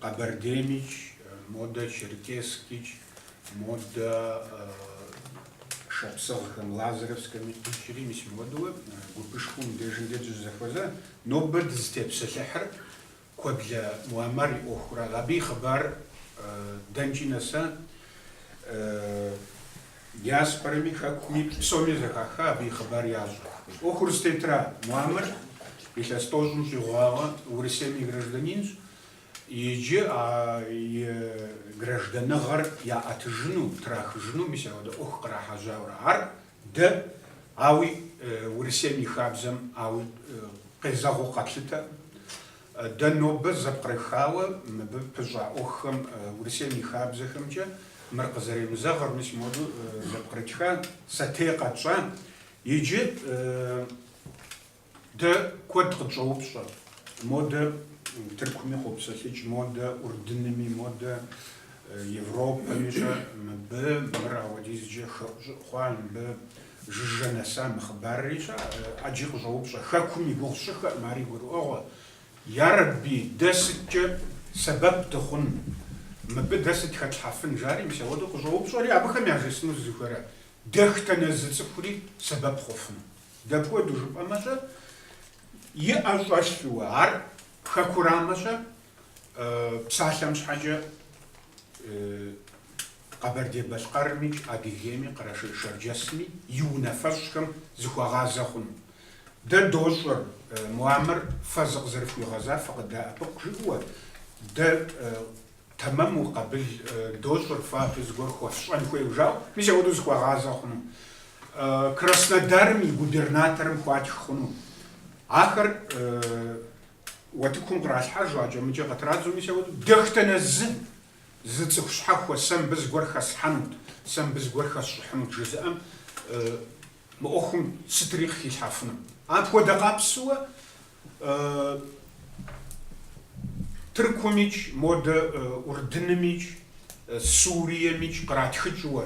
Къэбэрдеймикӏ, модэ черкесскикӏ, модэ шапсыгъхэм, лазаревскэми, къикӏри, мис ауэдэ гупышхуэм дежым дэ дызэхуэза. Нобэ дызытепсэлъыхьыр Куэблэ Муамар и ӏуэхура. Абы и хъыбар дэнкӏи нэса. Диаспорэми хэкуми псоми зэхаха абы и хъыбар ящӏэ. ӏуэхур зытетра Муаммэр илъэс тӏощӏым щӏигъуауэ Урысейм и гражданинщ иджы а и гражданыгъэр яӏэтыжыну, трахыжыну мис ауэдэ ӏуэху кърахьэжьауэра ар дэ, ауи Урысейм и хабзэм ауи къезэгъыу къэтлъытэ. Дэ нобэ зэпкърыхауэ мыбы пыщӏа ӏуэхухэм Урысейм и хабзэхэмкӏэ мыр къызэремызэгъыр, мис моду зэпкърытха, сэтей къэтщӏа. Иджы дэ куэд къытщӏоупщӏэ, модэ Тыркуми къопсэлъыкӏ, модэ Урдыными, модэ Европэми-щэ, мыбы мыр ауэдизкӏэ хэӏущӏыӏу хъуа, мыбы Жыжьэ нэса мы хъыбарри-щэ, ӏэджи къыщӏоупщӏэ, Хэкум и гугъу сщӏыххэкъым, ари гурыӏуэгъуэ. Ярэбби, дэ сыткӏэ сэбэп дыхъун? Мыбы дэ сыт хэтлъхьэфын? жари мис ауэдэу къыщӏоупщӏэри, абыхэм яжесӏэну сызыхуейра: Дэхтэ нэс зы цӏыхури сэбэп хъуфын. Дапхуэдэу жыпӏэмэ-щэ, и ӏэ щӏэлъууэ, ар Хэкурамэ-щэ, псалъэм щхьэкӏэ Къэбэрдей-Балъкъэрымикӏ Адыгейми Къэрэшей-Шэрджэсми и унафэщӏхэм зыхуэгъазэ хъуну. Дэ дощӏэр, Муамыр фэ зыкъызэрыфхуигъэзар фыкъыдэӏэпыкъу жыӏэуэ, дэ тэмэму къабыл дощӏыр фэ абы зыгуэр хуэфщӏэн хуейуэ жаӏэу, мис апхуэдэу зыхуэгъазэ хъуну. Краснодарым и губернаторым хуатх хъуну. Ахэр уэтыкум къралъхьэжу, акӏэмыкӏэ къытрадзу, мис апхуэдэу дэхтэнэ зы Зы цӏыху щхьэхуэ сэ мыбы зыгуэр хэслъхьэнут, сэ мыбы зыгуэр хэсщӏыхьынут жызыӏэм, мы ӏуэхум сытри къыхилъхьэфыну. Апхуэдэ къабзэу Тыркумикӏ, модэ Урдынымикӏ, Суриемикӏ къратхыкӏыуэ,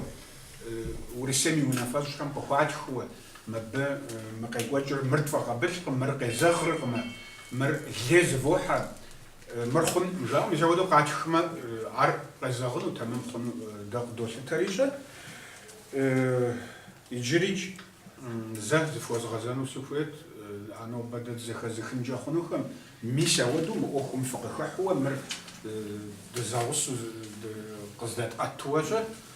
Урысейм и унафэщӏхэм къыхуатхыуэ, мыбы мы къекӏуэкӏыр мыр тфӏэкъабылкъым, мыр къезэгъркъымэ, мыр лей зывохьэ, Мыр хъун, жаӏэу мис апхуэдэу къатхмэ, ар къезэгъыну тэмэм хъуну дэ къыдолъытэри-щэ. Иджырикӏ зэ зыфхуэзгъэзэну сыхуейт а нобэ дэ дызэхэзыхынкӏэ хъунухэм. Мис ауэдэу мы ӏуэхум фыкъыхыхьуэ мыр дызэгъусу къыздэтӏэтыуэ-щэ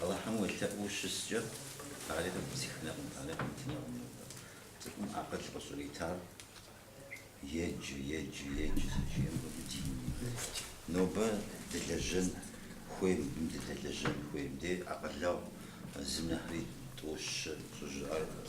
Алыхьым уелъэӏуу щыскӏэ, ари къепсыхынкъым, ари къэмытынкъым нобэ. Цӏыхум акъыл къыщӏритар еджэ, еджэ, еджэ зэрыжиӏэм хуэдэу динми. Нобэ дылэжьэн хуей мыбым дыдэлэжьэн хуей. Ди акъылэгъу зым нэхъри тӏощ щӏыжаӏэр.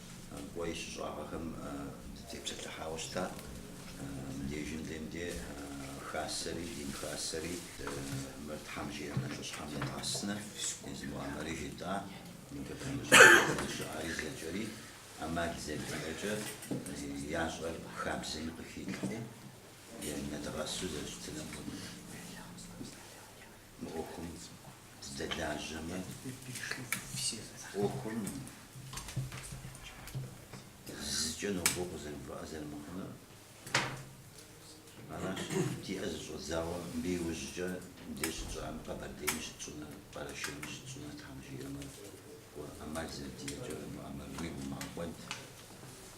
Кӏуэ и щыщӏагъэхэм дытепсэлъыхьауэ щытат. Мыбдежым дин, дэ хасэри, дин хасэри, мыр Тхьэм жиӏэ нэхъыщхьэм едгъэсынущ, езы муамэри жетӏа, мыбы пэмыщӏыхьу зыщыӏари зэкӏэри ӏэмал зэдиӏэкӏэ ящӏэр хабзэми къыхилъхьу, енэдгъэсу зэрыщытыныр къыгу. Мы ӏуэхум дыздэлажьэмэ, ӏуэхум зыкӏэ нобэ къызэрыувыӏэ зэрымыхъунур аращ, диӏэ зыщӏэдзауэ мыбы иужькӏэ мыбдеж щытщӏам Къэбэрдейми щытщӏынур, Къэрэшейми щытщӏынур, Тхьэм жиӏэмэ, кӏуэ, ӏэмал зэрыдиӏэкӏэ уимыӏэмэ, уигу умыгъэкӏуэд.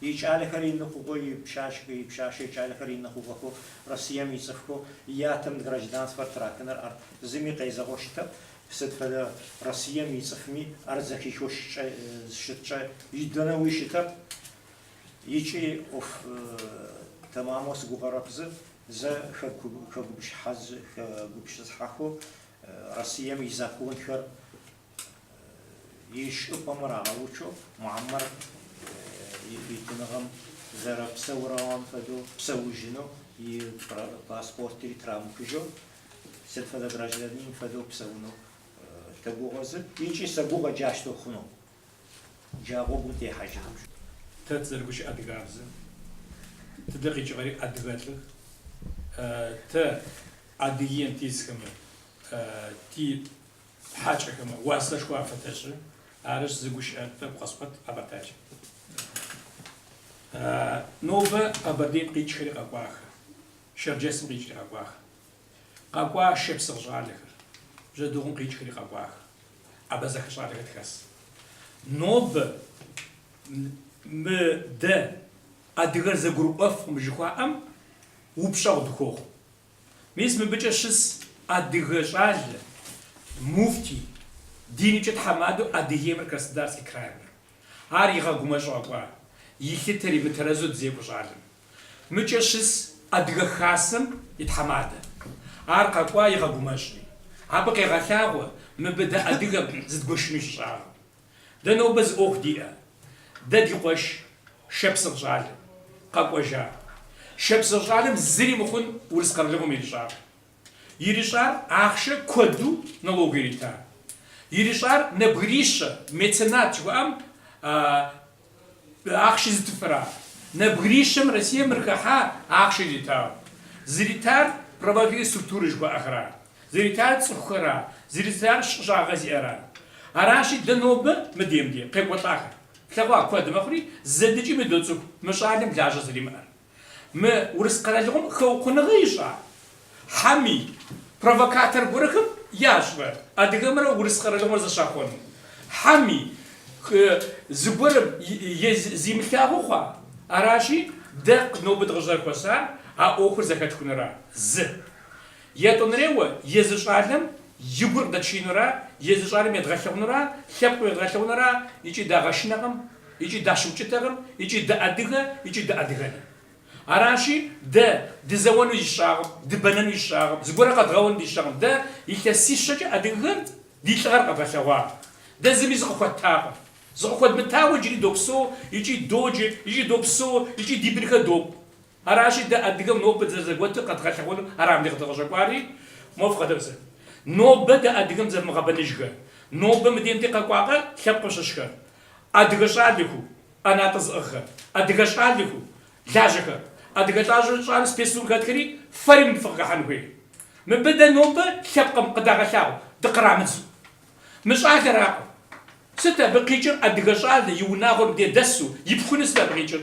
И кӏалэхэр ины хъугъэ, и пшъашъэ, и пшъашъэ и кӏалэхэр ины хъугъэхэу Россием и цӏыфхэу ятэм гражданствэр трахыныр, ар зыми къезэгъэу щытэп, сыт фэдэ Россием и цӏыфми ар зэхихыу щыткӏэ идэнэуи щытэп икӏи ӏоф тэмамэу сыгугъэрэп зы зэ хэгупшысыхьэхэу Россием и законхэр и щӏыпӏэмэ рагъэучу, Мухьэмэд и фитыныгъэм зэрэпсэугъэм фэдэу псэужыну, и паспортри трамыхыжьэу, сыд фэдэ гражданин фэдэу псэуну тэгугъэ, зы, икӏи сэгугъэ джащтэу хъуну, джа гъогум техьэжыным. Тэ тызэрыгущыӏэ адыгабз, тыдэ къикӏыгъэри адыгэлӏых, тэ Адыгеим тисхэмэ ти Хьачӏэхэмэ уасэшхуэ афэтэшӏы, арыщ зы гущыӏэ тӏэкӏу къэсӏуэт къэбэртэджэ. Нобэ Къэбэрдейм къикӏхэри къэкӏуахэ, Шэрджэсым къикӏри къэкӏуахэ. Къэкӏуа шэпсыгъ щӏалэхэр, Бжьэдыгъум къикӏхэри къэкӏуахэ, абэзэхэ щӏалэхэр тхэс. Нобэ мы дэ адыгэр зэгурыӏуэфкъым жыхуаӏэм упщӏэгъу дыхуохъу. Мис мыбыкӏэ щыс адыгэ щӏалэ, муфтий, динымкӏэ тхьэмадэу Адыгеймрэ Краснодарский краймрэ. Ар игъэгумэщӏу къэкӏуа, илъытэри мытэрэзу дызекӏуэ щӏалэм. Мыкӏэ щыс Адыгэ Хасэм и тхьэмадэ. Ар къэкӏуа игъэгумэщӏри. Абы къегъэлъагъуэ мыбы дэ адыгэм зыдгуэшыну щыщыӏэкъым. Дэ нобэ зы ӏуэху диӏэ. Дэ ди къуэш Шапсыгъ щӏалэ къэкӏуэжа. Шапсыгъ щӏалэм зыри мыхъун Урыс къэралыгъуэм ирищӏар. Ирищӏар ахъшэ куэду налог ирита. Ирищӏар нэбгырищэ, меценат жыхуаӏэм Ахъшэ зытыфыра? Нэбгырищэм Россием ярыхыхьа ахъшэ иритауэ? Зыритар правовые структурэ жыхуаӏэхра? Зыритар цӏыхухэра? Зыритар щыщӏагъэ зиӏэра? Аращи, дэ нобэ, мыдемде, къекӏуэлӏахэр. Плъэгъуа куэд мэхъури, зэдэкӏэми доцӏыху мы щӏалэм лажьэ зэримыӏэр. Мы Урыс къэралыгъуэм хэукъуныгъэ ищӏа? Хьэми, провокатор гуэрхэм ящӏрэ адыгэмрэ Урыс къэралыгъуэр зэщахуэну? Хьэми, зыгуэрым зимылъагъуу хъуа? Аращи, дэ нобэ дыкъыщӏызэхуэсар а ӏуэхур зэхэтхунура? Зы. Етӏуанэреуэ, езы щӏалэм и гур къыдэтшеинура, езы щӏалэм едгъэлъыгъунура, лъэпкъым едгъэлъыгъунура, икӏи дагъэшынэкъым, икӏи дащыукӏытэкъым, икӏи дыадыгэ, икӏи дыадыгэнэ. Аращи, дэ, дызэуэну дищӏагъым, дыбэнэну дищӏагъым, зыгуэрэ къэдгъэуэну дищӏагъым, дэ, илъэсищэкӏэ адыгэхэр ди лӏыгъэр къэдгъэлъэгъуакъэ. Дэ зыми зыкъыхуэттакъым. Зыкъыхуэдмытауэ иджыри допсэу, икӏи доджэ, икӏи допсэу, икӏи ди бынхэр допӏ. Аращи, дэ адыгэм нобэ дызэрызэгуэтыр къэдгъэлъэгъуэну ара мыбдеж дыкъыщӏэкӏуари? Мо фыкъэдэпсэ. Нобэ дэ адыгэм дызэрымыгъэбэныжхэр, нобэ мы дунейм дыкъэкӏуакъэ лъэпкъым щыщхэр, адыгэ щӏалэхэу, ӏэнатӏэ зыӏыгъхэр, адыгэ щӏалэхэу, лажьэхэр, адыгэ лажьэу щӏалэу спецтурым хэтхэри фэри мыбы фыкъыхыхьэн хуей. Мыбы дэ нобэ лъэпкъым къыдагъэлъагъу дыкърамыдзу. Мы щӏалэракъым. Сыт абы къикӏыр адыгэ щӏалэ и унагъуэр мыбдеж дэсу, ипхуну сыт абы къикӏыр?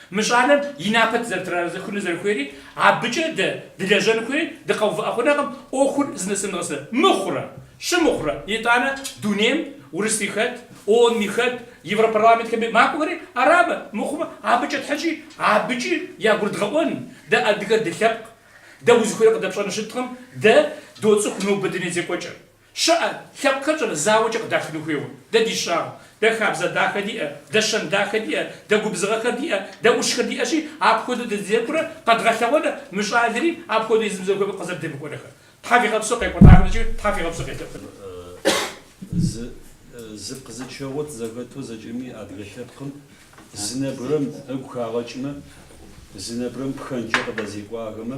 Мы щӏалэм и напэ зэрытрахыну зэрыхуейри, абыкӏэ дэ дылэжьэн хуейри дыкъэувыӏэ хъунэкъым, ӏуэхур знэсымыгъэсэ мыхъурэ щымыхъурэ, итӏанэ дунейм урысри хэт, ООН-и хэт, Европарламентхэм и макӏуэхэри арабэ, мыхъумэ, абыкӏэ тхьэкӏи абыкӏи ягурыдгъэӏуэн, дэ адыгэр дылъэпкъ, дэ узыхуейр къыдэпщӏэну щыткъым, дэ доцӏыху нобэ дуней зекӏуэкӏэр. Щыӏэ, лъэпкъхэр щӏыр зауэкӏэ къыдахыну хуейуэ? Дэ дищӏагъым. Дэ хабзэ дахэ диӏэ, дэ щэн дахэ диӏэ, дэ губзыгъэхэр диӏэ, дэ ӏущхэр диӏэщи, апхуэдэу дызэдекӏурэ къэдгъэлъэгъуэнэ мы щӏалэри апхуэдэу езым зыхуеймэ къызэрыдемыкӏуэнэхэр? Тхьэ фигъэпсэу къекӏуэлӏахэмкӏэ Тхьэ фигъэпсэу къелъэӏунур. Зы зыр къызычэгъуэт зэхэту зэкӏэми адыгэ лъэпкъым зы нэбгырэм игу хагъэкӏмэ, зы нэбгырэм пхэнжкӏэ къыдэзекӏуахэмэ,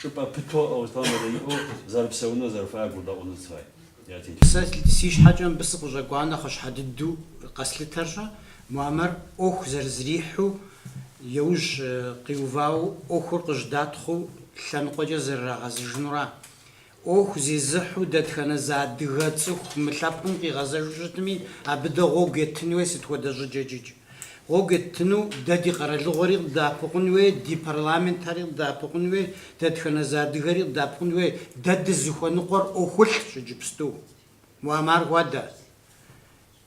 чӏыпӏэ пытэу ӏэуэлъауэ мыдэиӏэу зэрыпсэунур зэрыхуеар гурдэӏуэну тыфай. Сэ си щхьэкӏэ мыбы сыкъыщӏэкӏуа нэхъыщхьэ дыдэу къэслъытэрщэ, Муамэр ӏуэху зэрызрихьу, еужь къиувауэ ӏуэхур къыжьэдатхъыу лъэныкъуэкӏэ зэрырагъэзыжынура. ӏуэху зезыхьу дэтхэнэ зы адыгэ цӏыху мы лъэпкъым къигъэзэжу щытми, абы дэ гъуэгу етын хуей сыт хуэдэ щӏыкӏэкӏикӏ? Гъуэгу еттыну дэ ди къэралыгъуэри къыдэӏэпыкъун хуей, ди парламентэри къыдэӏэпыкъун хуей, дэтхэнэ зы адыгэри къыдэӏэпыкъун хуей. Дэ дызыхуэныкъуэр ӏуэхулӏщ иджыпсту. Муамар хуэдэ.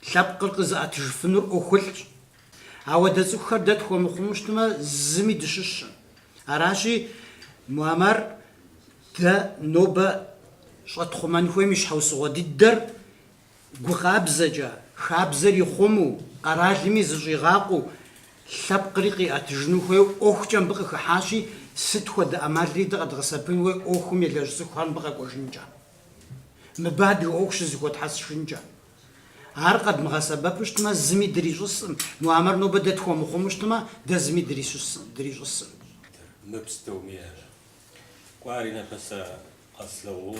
Лъэпкъыр къызыӏэтыжыфынур ӏуэхулӏщ. Ауэдэ цӏыхухэр дэ тхуэмыхъуму щытмэ, зыми дыщыщым. Аращи, Муамар дэ нобэ щӏэтхъумэн хуейм и щхьэусыгъуэ дыдэр Гу къабзэкӏэ, хабзэр ихъумэу, къэралми зыщӏигъакъуэу, лъэпкъри къиӏэтыжыну хуейуэ ӏуэхукӏэ мыбы къыхыхьащи, сыт хуэдэ ӏэмалри дэ къэдгъэсэбэпын хуей ӏуэхум елэжь цӏыхухэр мыбы къэкӏуэжынкӏэ? Мыбы адыгэ ӏуэху щызэхуэтхьэсыжынкӏэ? Ар къэдмыгъэсэбэпу щытмэ, зыми дрищӏысым, муамэр нобэ дэ тхуэмыхъуму щытмэ, дэ зыми дрищӏысым. Тыр мыпс тӏоми ара? Кӏуари напэсэ къэслъэгъуу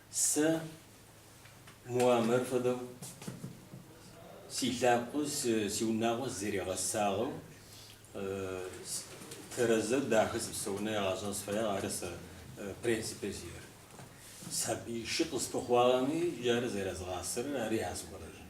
Сэ Муамэр фэдэу си лӏакъуэ, си унагъуэ сызэригъэсагъэу, тэрэзэу дахэ сыпсэуныр язгъэщӏэн сыфэягъ, ары сэ принципыр сиӏэр. Сабий шы къысхуэхъуагъэми, иджы ары зэрэзыгъасэрыр, ари ясхуэрэжын.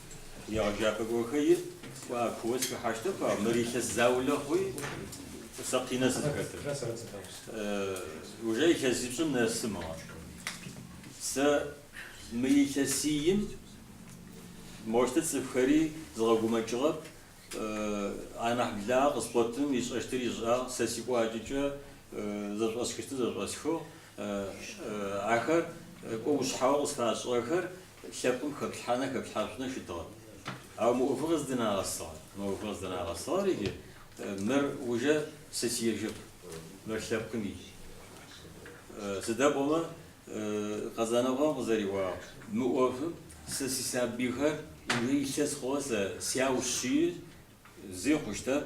Егъэджапӏэ гуэхэи кӏуа кууэ схыхьэщтэ хъуа, мыр илъэс заулэ хъуи, сэ къинэ сызыхэтыр. Уже илъэсипщӏым нэсы мыгъэ. Сэ мы илъэсийм мощтэ цӏыфхэри згъэгумэкӏыгъэп, анахь благъэ къыскъуэтым ищӏэщтыр ищӏагъ, сэ си кӏуачӏэкӏэ зэщӏэсхыщтыр зэщӏэсхыгъ, ахэр кӏуэ ущхьэуэ къысхащӏыгъэхэр Лъэпкъым хэплъхьанэ хэплъхьащӏынэ щытыгъэт. Ауэ мы ӏуэху къыздынагъэсыгъэр, мы ӏуэху къыздынагъэсыгъэр иджы, мыр ужэ сэ сиежэп, мыр лъэпкъым ий. Сыда пӏомэ, Къэзанокъуэм къызэриӏуагъ. Мы ӏуэхум сэ си сабийхэр ужэ илъэс хъугъэ сэ сяущи, зи хъущтэп.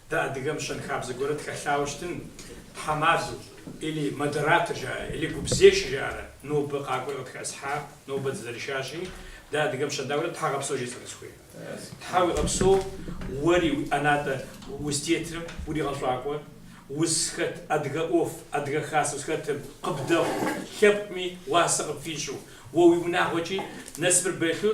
Дэ адыгэм щэнхабзэ гуэрыр тхэлъауэ щытын, тхьэмадэу, или, модератор жаӏэрэ, или, гупзешэ жаӏэрэ нобэ къакӏуэри къытхэтӏысхьа, нобэ дызэрышащи, дэ адыгэм щэнда гуэрыр тхьэуегъэпсэу жесӏэну сыхуей. Тхьэ уигъэпсэу, уэри, уи ӏэнатӏэ узытетырым уригъэщӏакӏуэ, узхэт адыгэ ӏуэху, адыгэ хасэ узхэтым къыбдэхъу, лъэпкъми уасэ къыпфищӏу, уэ уи унагъуэкӏи насыпыр бэлъу